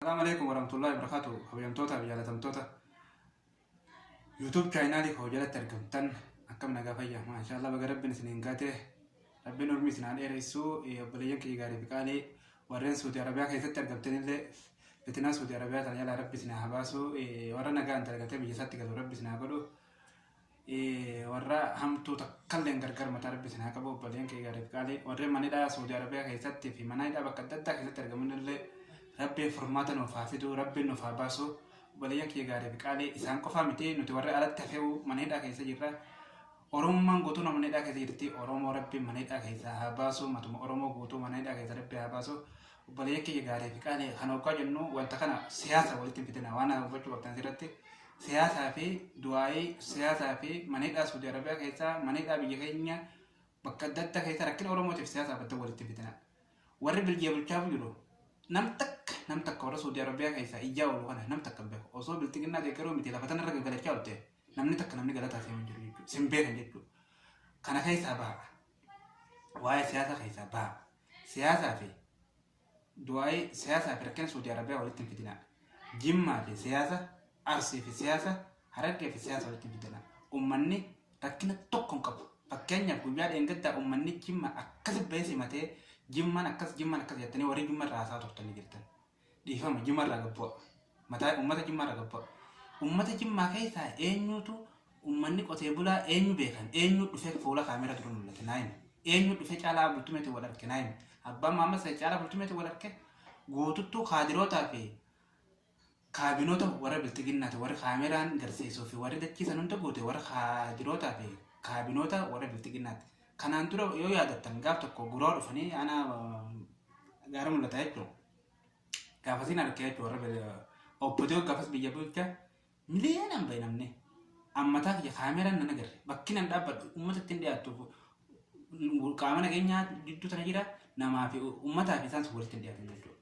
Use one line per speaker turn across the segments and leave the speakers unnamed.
Salaam Aleekum Waramtullahi Barakaatu Kabajamtoota Jaalatamtoota YouTube chaayinaalii koo jalatti argamtan akkam nagaa fayyaa maashaallah baga rabbiin isin hin gaate rabbiin urmii isin haa dheeressu obboleeyyan kiyya gaarii fi qaalii warreen Suudi Arabiyaa keessatti argamtanillee fitinaa Suudi Arabiyaa kana jalaa rabbi isin haa baasu warra nagaa hin dalgatee biyya isaatti galu rabbi isin haa godhu warra hamtuu takkalleen gargar mataa rabbi isin haa qabu obboleen kee gaariif qaalii warri manidhaa Saudi Arabiyaa keessatti fi mana hidhaa bakka adda addaa keessatti argaman illee rabbi furmaata nuuf haa fiduu rabbi nuuf haa baasu obboleeyyan kee gaariif qaalii isaan qofaa miti nuti warri alatti hafeewu mana hidhaa keessa jirra Oromummaan guutuun mana hidhaa keessa jirti Oromoo rabbi mana hidhaa keessa haa baasu matuma Oromoo guutuu mana hidhaa keessa rabbi haa baasu Obboleeyyan kiyya gaarii fi qaalii kan hoggaa jennu wanta kana siyaasa walitti hin fidina waan kana hubachuu qabdan asirratti siyaasaa fi du'aa'ii siyaasaa fi maneedhaa Suudi Arabiyaa keessaa maneedhaa biyya keenya bakka adda addaa keessaa rakkina Oromootiif siyaasaa badda walitti hin fidina. Warri biljiya bulchaa jiru nam takka nam takka warra Suudi Arabiyaa keessaa ijaa oolu kana nam takka hin beeku osoo bilxiginnaa deeggaruu miti lafa tanarra gaggalachaa oolte namni takka namni galataa seenuu jiru jechuudha. Sin beekan jechuudha. Kana keessaa baha. Waa'ee siyaasaa keessaa baha. Siyaasaa fi du'aa'ii siyaasaa fi rakkina Suudi Arabiyaa walitti hin fidinaa. Jimmaa fi siyaasa, Arsii fi siyaasa, Harargee fi siyaasa walitti hin fidinaa. Ummanni rakkina tokko hin qabu. Fakkeenyaaf guyyaa dheengaddaa ummanni Jimmaa akkasi bahee simatee Jimmaan akkas Jimmaan akkas jettanii warri Jimma irraa haasaa turtanii jirtan. Dhiifama jimma irraa gad bu'a. Mataa ummata jimmaa irraa gad bu'a. Ummata jimmaa keessaa eenyuutu ummanni qotee bulaa eenyu beekan eenyu dhufee fuula kaameera dura mul'ate naa hima. Eenyu dhufee caalaa bultumeetti wal arge naa hima. Abbaan Maammas ta'e caalaa bultumeetti wal arge guututtuu kaadirootaa fi kaabinoota warra bilxiginnaati warri kaameeraan garsiisuu fi warri dachii san hunda guute warra kaadirootaa fi kaabinoota warra bilxiginnaati. Kanaan dura yoo yaadattan gaaf tokko guraa dhufanii ana gaara mul'ataa jechuudha. Gaafasiin harkee jechuudha warra obbodoo gaafas biyya bulcha miliyoonaan bahe namni. Ammataa kiyya kaameraan nan agarre bakki nan dhaabbadhu uummata ittiin dhiyaattu qaama nageenyaa gidduu sana jira namaa fi uummataa fi isaan walitti hin dhiyaatan jechuudha.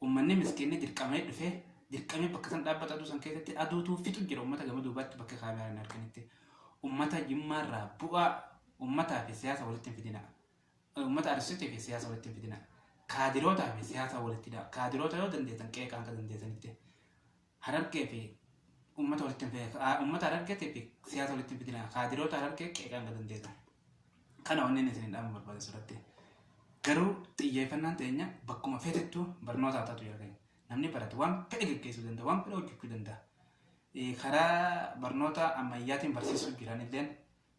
Ummanni miskiinni dirqamee dhufee dirqamee bakka san dhaabbata aduu san keessatti aduutu fixu jira ummata gama duubaatti bakka kaameeraa hin arganitti. Ummata Jimmaa irraa bu'aa ummataa fi siyaasa walitti hin fidina. Ummata Arsiitii fi siyaasa walitti hin fidina. Kaadirootaa fi siyaasa walitti hidhaa. Kaadiroota yoo dandeessan qeeqaa hanga dandeessanitti. Harargee fi ummata walitti hin fidina. Haa- Ummata Harargeetii fi siyaasa walitti hin fidina. Kaadiroota Harargee qeeqaa hanga dandeessan. Kana wanneen isiniin dhaamu barbaada sirratti. Garuu xiyyeeffannaan teenya bakkuma feetettu barnoota haa taatu jedhanii. Namni barate waan fedhe geggeessuu danda'a, waan fedhe hojjechuu danda'a. Eh, Karaa barnoota ammayyaatiin barsiisuu jiranilleen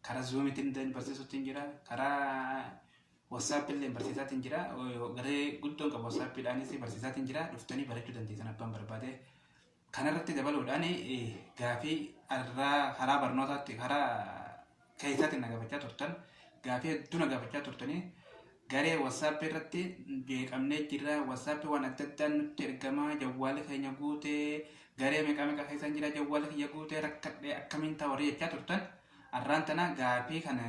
Karaa zuumiitiin illee barsiisuutti hin jira. Karaa wasaappiin illee barsiisaatiin jira. Garee guddoon qabu wasaappiidhaanis barsiisaatiin jira. Dhuftanii barachuu dandeessan abbaan barbaade. Kanarratti dabaluudhaan gaafii irraa karaa barnootaatti karaa keessaatiin na gaafachaa turtan. Gaafii hedduu na gaafachaa turtanii Garee WhatsApp irratti jeeqamnee jirra WhatsApp waan adda addaan nutti ergama jawwaalli keenya guute garee meeqaa meeqaa keessan jira jawwaalli kiyya guute rakkadhe akkamiin ta'a warri jechaa turtan arraan tana gaafii kana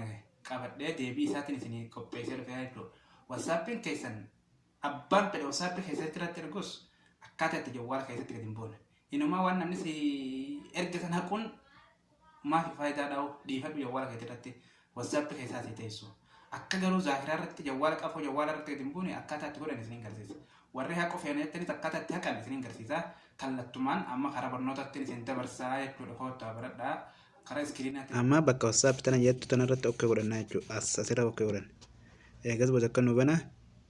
qabadhee deebii isaatiin isin qopheessee dhufeera jechuudha. WhatsAppin keessan abbaan fedhe WhatsApp keessatti irratti ergus akkaataa itti jawwaala keessatti gadi hin buune Inumaa waan namni si erge san haquun maafi faayidaa dhaa'u dhiifadhu jawwaala keetii irratti wasaappi keessaa si teessu. Akka garuu zaakiraa irratti jawwaala qafoo jawwaala irratti gadi hin buune akkaataa itti godhan isiniin garsiisa. Warri haquu feena jettanis akkaataa itti haqan isiniin garsiisa. Kallattumaan amma karaa barnootaattiin isin dabarsaa jechuudha koottaa baradhaa karaa iskiriinaatti. Amma bakka wasaappi tana jettu tana irratti okkee godhannaa jechuudha. As asirra okkee godhan. Eegas booda akka nu bana.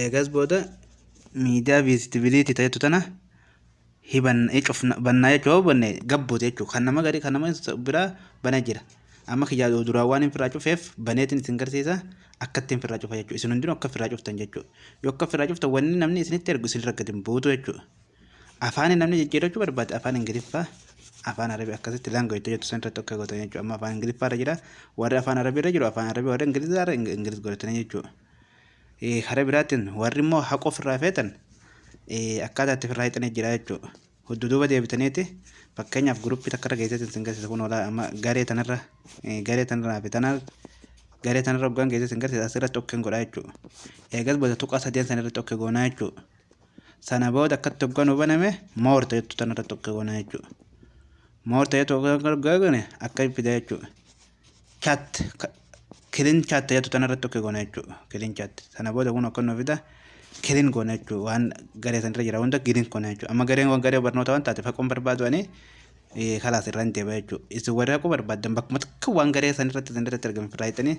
Eegas booda miidiyaa viizitibiliitii ta'etu tana hibanna eh, cufna bannaa jechuu yoo banne gabbuuti jechuudha. Kan nama garii kan nama isa biraa bana jira. Amma kiyyaa duraan waan hin firraa cufeef baneetiin isin garsiisa akka ittiin firraa cufa jechuudha. Isin hundinuu akka firraa cuftan jechuudha. Yoo akka firraa cuftan wanni namni isinitti ergu isin rakkate hin buutu jechuudha. Afaan namni jijjiirachuu barbaade afaan Ingiliffaa afaan Arabii akkasitti laangoo itti jettu san irratti akka gootan jechuudha. Amma afaan Ingiliffaa irra jira. Warri afaan Arabii irra jiru afaan Arabii warri Ingilizaa irra Ingiliz godhatanii jechuudha. Karaa biraatiin warri immoo haqa ofirraa feetan akkaataa itti ofirraa hiixanii jira jechuudha. Huddu
duuba deebitaniiti fakkeenyaaf guruppii takkarra geesseetiin sin garsiisa kun olaa amma garee tanarra garee tanarraa fi tanaa garee tanarra hoggaan geessee sin garsiisa asirratti okkeen godhaa jechuudha. Eegas booda tuqaa sadeen sana irratti okkee goonaa jechuudha. Sana booda akkatti hoggaan hubaname moor ta'etu tanarratti okkee goonaa jechuudha. Moor ta'etu hoggaan goone akka fida jechuudha. chat kilin chat jettu tana irratti tokko goona jechuudha. Kilin chat sana booda kun akka nuuf fida kilin goona jechuudha. Waan garee san irra jira hunda kilin goona jechuudha. Amma gareen kun garee barnoota waan taateef haquun barbaadu ani kalaas irra hin deebi'a jechuudha. Isin warri haquu barbaaddan bakkuma takka waan garee san irratti isin irratti argamu irraa hiixanii